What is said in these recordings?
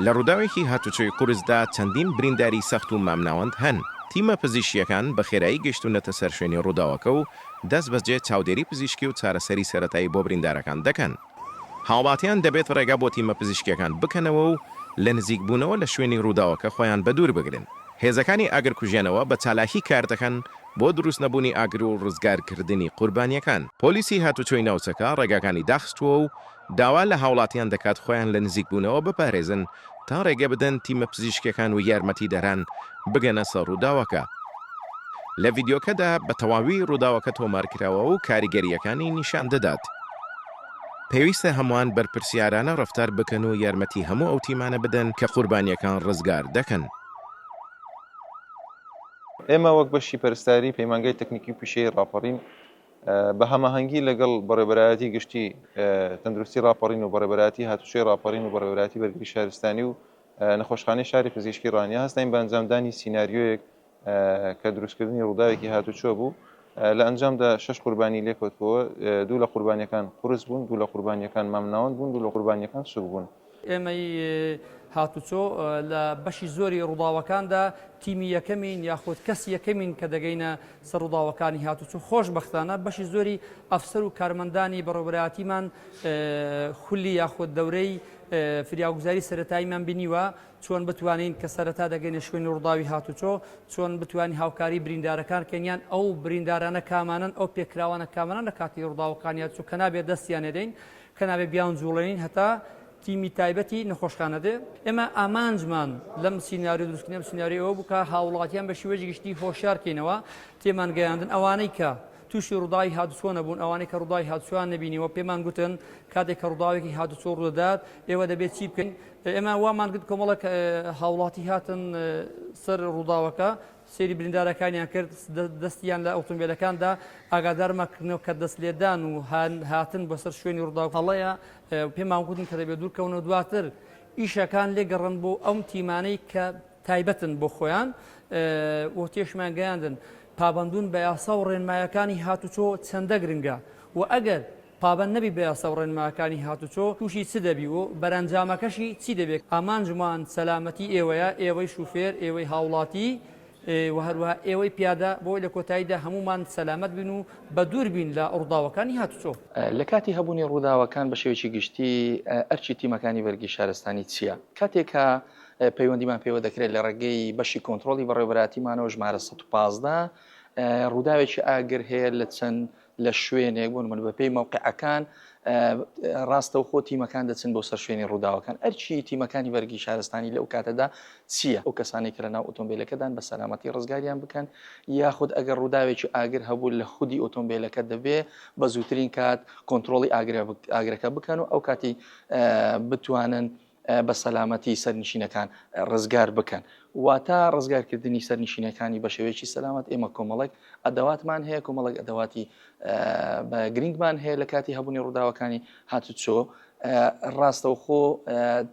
لە ڕووداوێکی هاتوچۆی قورسدا چەندین برینداری سەخت و مامناوەند هەن، تیمە پزیشکییەکان بە خێرایی گەیشتوونەتە سەر شوێنی ڕووداوەکە و دەستبەجێ چاودێری پزیشکی و چارەسەری سەرەتایی بۆ بریندارەکان دەکەن. هاوڵاتیان دەبێت ڕێگا بۆ تیمە پزیشکییەکان بکەنەوە و لە نزیکبوونەوە لە شوێنی ڕووداوەکە خۆیان بەدوور بگرن. هێزەکانی ئاگرکوژێنەوە بە چالاکی کار دەکەن بۆ دروستنەبوونی ئاگر و ڕزگارکردنی قوربانییەکان. پۆلیسی هاتوچۆی ناوچەکە ڕێگاکانی داخستووە و داوا لە هاوڵاتیان دەکات خۆیان لە نزیکبوونەوە بپارێزن تا ڕێگە بدەن تیمە پزیشکیەکان و یارمەتیدەران بگەنە سەر ڕووداوەکە. لە ڤیدیۆکەدا بە تەواوی ڕووداوەکە تۆمارکراوە و کاریگەرییەکانی نیشان دەدات. پێویستە هەمووان بەرپرسیارانە ڕەفتار بکەن و یارمەتی هەموو ئەو تیمانە بدەن کە قوربانییەکان ڕزگار دەکەن. ئێمە وەک بەشی پەرستاری پەیمانگای تەکنیکی و پیشەیی ڕاپەڕین، بە هەماهەنگی لەگەڵ بەڕێبەرایەتی گشتی تەندروستی راپەڕین و بەڕێبەراتی هاتوچۆی راپەڕین و بەڕێبەراتی بەرگری شارستانی و نەخۆشخانەی شاری پزیشکی ڕانیە هەستین بە ئەنجامدانی سینناریۆیەک کە دروستکردنی ڕووداوێکی هاتوچۆ بوو لە ئەنجامدا شش قوربانی لێکەوتەوە دوو لە قوربانیەکان قرس بوون دوو لە قوربانیەکان مامناوەند بوون دوو لە قوربانیەکان سوک بوون ئێمەی هاتوچۆ لە بەشی زۆری ڕووداوەکاندا تیمی یەکەمین یاخود کەس یەکەمین کە دەگەینە سەر ڕووداوەکانی هاتوچۆ خۆشببختانە بەشی زۆری ئەفسەر و کارمەندانی بەڕێبەراتیمان خولی یاخود دەورەی فریاگوزاری سەتاییمان بینیوە چۆن بتوانین کە سەرەتا دەگەینە شوێنی ڕووداوی هاتوچۆ چۆن بتوانین هاوکاری بریندارەکان کەنیان ئەو بریندارانە کامانن ئەو پێکراوانە کامانە لە کاتی ڕووداوەکانیان چوو کە نابێت دەستیان نەدەین کە نابێ بیانجووڵێنین هەتا تیمی تایبەتی نەخۆشخانە دێ. ئێمە ئامانجمان لەم سیناریۆ دروستکردنی ئەم سیناریۆ ئەوە بوو کە هاووڵاتیان بە شیوەیەکی گشتی هۆشیار بکەینەوە، تێمان گەیاندن ئەوانەی کە تووشی ڕووداوی هاتووچۆ نەبوون، ئەوانەی کە ڕووداوی هاتووچۆیان نەبینیوە پێمان گوتن کاتێک کە ڕووداوێکی هاتووچۆ ڕوو دەدات ئێوە دەبێت چی بکەین؟ ئێمە وامان کرد کۆمەڵێک هاووڵاتی هاتن سەر ڕووداوەکە، سەیری بریندارەکانیان کرد دەستیان لە ئۆتۆمبێلەکان دا، ئاگادارمان کردنەوە کە دەست لێدان و هاتن بۆ سەر شوێنی ڕووداو هەڵەیە و پێمان گوتن کە دەبێت دوور کەونەوە دواتر ئیشەکان لێ گەڕن بۆ ئەو تیمانەی کە تایبەتن بۆ خۆیان و تێشمان گەیاندن پابەندون بە یاسا و ڕێنمایەکانی هاتوچۆ چەندە گرنگە و ئەگەر پابەند نەبی بە یاسا و ڕێنماکانی هاتوچۆ تووشی چ دەبی و بەرەنجامەکەشی چی دەبێت، ئامانجمان سەلامەتی ئێوەیە، ئێوەی شوفێر، ئێوەی هاوڵاتی و هەروەها ئێوەی پیادە، بۆی لە کۆتاییدا هەموومان سەلامەت بین و بەدوور بین لە ڕووداوەکانی هاتوچۆ. لە کاتی هەبوونی ڕووداوەکان بە شێوەیەکی گشتی ئەرکی تیمەکانی بەرگری شارستانی چییە؟ کاتێک کە پەیوەندیمان پێوە دەکرێت لە ڕێگەی بەشی کۆنترۆڵی بەڕێوەبەرایەتیمانەوە ژمارە سەد و پازدە ڕووداوێکی ئاگر هەیە لە چەند لە شوێنێک بوون من بەپی مەوقعەکان ڕاستە و خۆ تیمەکان دەچن بۆ سەر شوێنی ڕووداوەکان ئەرچی تیمەکانی بەرگی شارستانی لەو کاتەدا چییە ئەو کەسانی کە لە ناو ئۆتۆمبیلەکەدان بە سەلامەتی ڕزگاریان بکەن یاخود ئەگەر ڕووداوێکی ئاگر هەبوو لە خودی ئۆتۆمبیلەکە دەبێ بە زووترین کات کۆنتترۆلی ئاگرەکە بکەن و ئەو کاتی بتوانن بە سەلامەتی سەرنشینەکان ڕزگار بکەن واتا ڕزگارکردنی سەرنشینەکانی بە شێوەیەکی سەلامەت ئێمە کۆمەڵک ئەدەواتمان هەیە کۆمەڵک ئەدەواتی بە گرنگمان هەیە لە کاتی هەبوونی ڕووداوەکانی هاتوچۆ ڕاستەوخۆ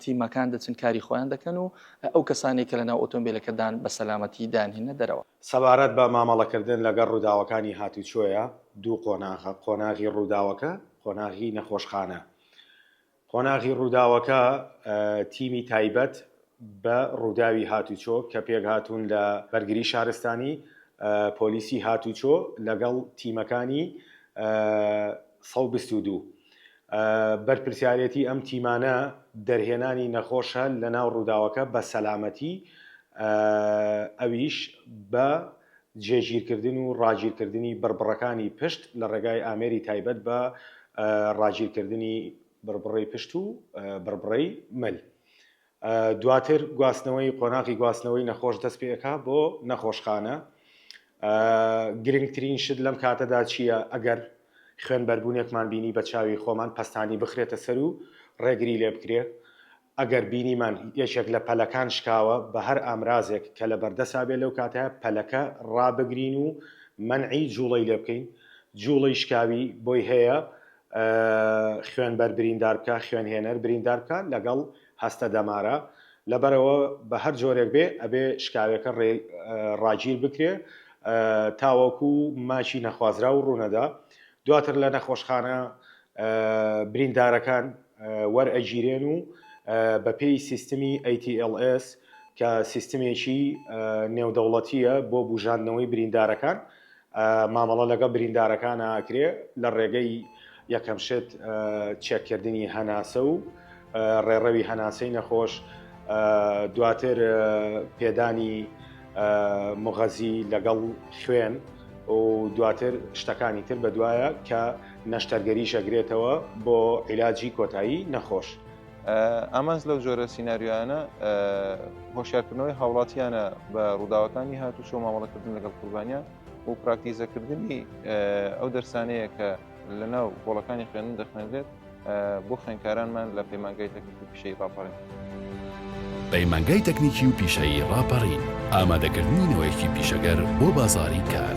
تیمەکان دەچن کاری خۆیان دەکەن و ئەو کەسانی کە لەناو ئۆتۆمبیلەکەدان بە سەلامەتی دانهێنە دەرەوە سەبارەت بە مامەڵەکردن لەگەڵ ڕووداوەکانی هاتوچۆیە دوو قۆناغە قۆناغی ڕووداوەکە قۆناغی نەخۆشخانە قۆناغی ڕووداوەکە تیمی تایبەت بە ڕووداوی هاتوچۆ کە پێکهاتوون لە بەرگری شارستانی، پۆلیسی هاتوچۆ لەگەڵ تیمەکانی سەد و بیست و دوو. بەرپرسیارێتی ئەم تیمانە دەرهێنانی نەخۆشە لەناو ڕووداوەکە بە سەلامەتی ئەویش بە جێگیرکردن و ڕاگیرکردنی بڕبڕەکانی پشت لە ڕێگای ئامێری تایبەت بە ڕاگیرکردنی بڕبڕەی پشت و بڕبڕەی مل. دواتر گواستنەوەی قۆناغی گواستنەوەی نەخۆش دەست پێکا بۆ نەخۆشخانە. گرنگترین شت لەم کاتەدا چییە ئەگەر خوێن بەربوونێکمان بینی بە چاوی خۆمان پەستانی بخرێتە سەر و ڕێگری لێ بکرێت. ئەگەر بینیمان یەکێک لە پەلەکان شکاوە، بە هەر ئامرازێک کە لە بەردەسا بێت لەو کاتە پەلەکە ڕابگرین و مەنعی جووڵەی لێ بکەین، جووڵەی شکاوی بۆی هەیە خوێنبەر بریندار بکات، خوێنهێنەر بریندار بکات لەگەڵ هەستە دەمارە، لەبەرئەوە بە هەر جۆرێک بێت ئەبێ شکاوێکە ڕاگیر بکرێت تاوەکو ماکی نەخوازراو ڕوونەدا، دواتر لە نەخۆشخانە بریندارەکان وەرئەگیرێن و بەپێی سیستمی ATLS کە سیستمێکی نێودەوڵەتییە بۆ بوژاندنەوەی بریندارەکان مامەڵە لەگەڵ بریندارەکان ئاکرێ لە ڕێگەی یەکەم شت چێککردنی هەناسە و ڕێڕەوی هەناسەی نەخۆش، دواتر پێدانی مغەزی لەگەڵ خوێن و دواتر شتەکانی تر بەدوایە کە نەشتەرگەری شەگرێتەوە بۆ عیلاجی کۆتایی نەخۆش. ئامانج لەو جۆرە سیناریۆیانە هۆشارکردنەوەی هاوڵاتیانە بە ڕووداوەکانی هاتوو چۆ مامەڵەکردن لەگەڵ قوربانیان و پراکتیزەکردنی ئەو دەرسانەیە کە لە ناو بۆڵەکانی خوێندن دەخوێنرێت بۆ خوێنکارانمان لە پەیمانگای تەکنیکی پیشەی ڕاپەڕین. پەیمانگای تەکنیکی و پیشەیی ڕاپەڕین، ئامادەکردنی نەوەیەکی پیشەگەر بۆ بازاڕی کار.